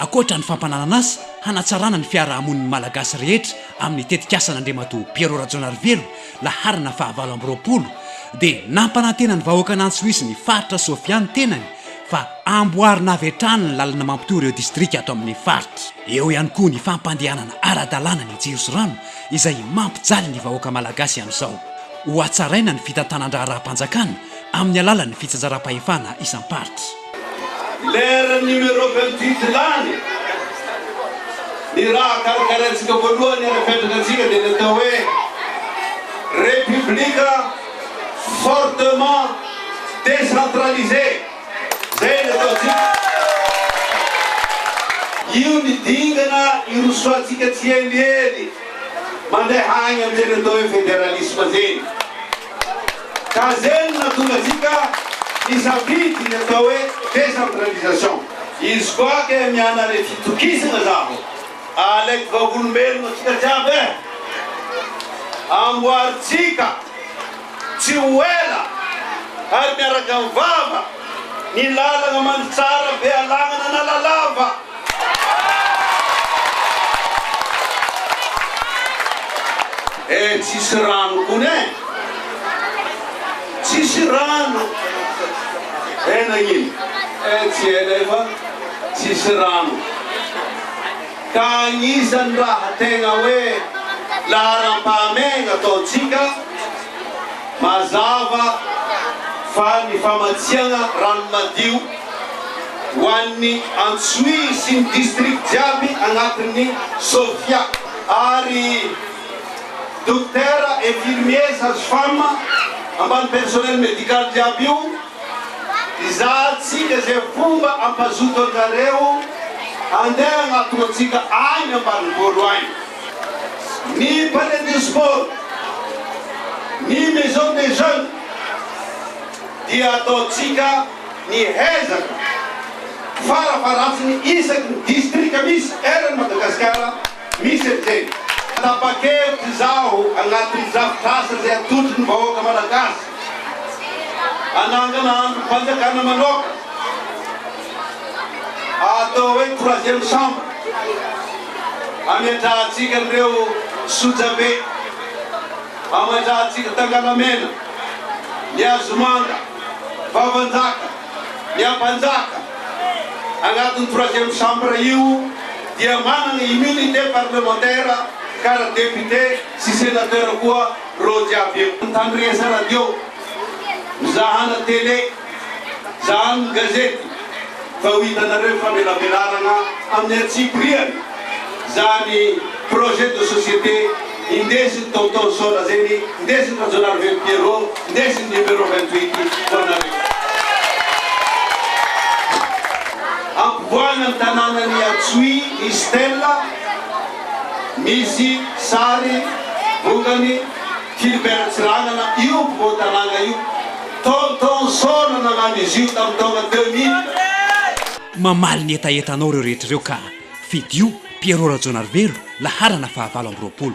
Ankoatra ny fampananana asa hanatsarana ny fiaraha-monin'ny Malagasy rehetra amin'ny tetikasan'Andriamatoa Pierrot Rajaonarivelo laharana fahavalo amby roapolo dia nampanantena ny vahoakan'Antsohihy ny faritra Sofia ny tenany fa amboarina avy hatrany ny lalana mampitohy ireo distrika ato amin'ny faritra. Eo ihany koa ny fampandehanana ara-dalàna ny jiro sy rano izay mampijaly ny vahoaka Malagasy amin'izao. Hohatsaraina ny fitantanan-draharaham-panjakana amin'ny alalan'ny fitsinjaram-pahefana isam-paritra. Leran'ny numéro vingt huit lany, ny raha karakaraintsika voalohany ary apetraka antsika dia ny atao hoe Repoblika fortement décentralisée, izay no ataontsika. Io ny dingana irosoantsika tsieliely mandeha any amin'ny teny atao hoe Fédéralisme teny. Ka zay no nahatonga antsika nisafidy ny atao hoe décentralisation. Izy koa kay miana re fitokisana zaho alaiky vavolombelona tsika jiaby eh! Amboary tsika tsy ho ela ary miaraka mivava ny lalana mandry tsara be alagna na lala lava. Eh tsisy rano kony eh! Tsisy rano eh nagnino? Eh tsy hainay fa tsisy rano. Ka agnisan'ny raha tegna hoe laharam-pahamehagna ataontsika mazava fa ny famatsiagna rano madio, ho an'ny Antsohihy sy ny district jiaby anatin'ny Sofia ary Dokotera, Infirmier, Sage Femme ambany personnel médical jiaby io hizahantsika izay fomba hampazoto anjareo handeha hanatona antsika any ambanivolo any ny Palais de Sport, ny Maison des Jeunes dia ataontsika. Ny ezaka farafaharatsiny isaky ny distrika misy eran'i Madagasikara misy an'izay. Tapa-kevitra izaho anatin'ny drafitr'asa izay atolotry ny vahoaka Malagasy hanangana andrim-panjakana manoaka atao hoe troisième chambre hametrahantsika an'ireo Sojabe, hametrahantsika Tangalamena, ny Azomanga. Vavanjaka, ny Ampanjaka anatin'ny troisième chambre io dia manana immunité parlementaire kara député sy sénateur koa reo jiaby eo. Mitandresa radio, mizahana télé, zahano ny gazety fa ho hitanareo ny famelabelarana amin'ny antsipiriany zany projet de société. Indesiny Tonton Saona zay ny indesiny Rajaonarivelo Pierrot indesiny numéro vingt huit ho anareo. Ampivoahana ny tananan'i Atsuy ny stèle misy sary vongany Philibert Tsiranana io ampovoan-tanàna io. Tonton Saona nanano izy io tamin'ny taona deux mille. Mamaly ny hetahetanao ireo rehetra ireo ka! Fidio, Pierrot Rajaonarivelo, laharana fahavalo amby roapolo.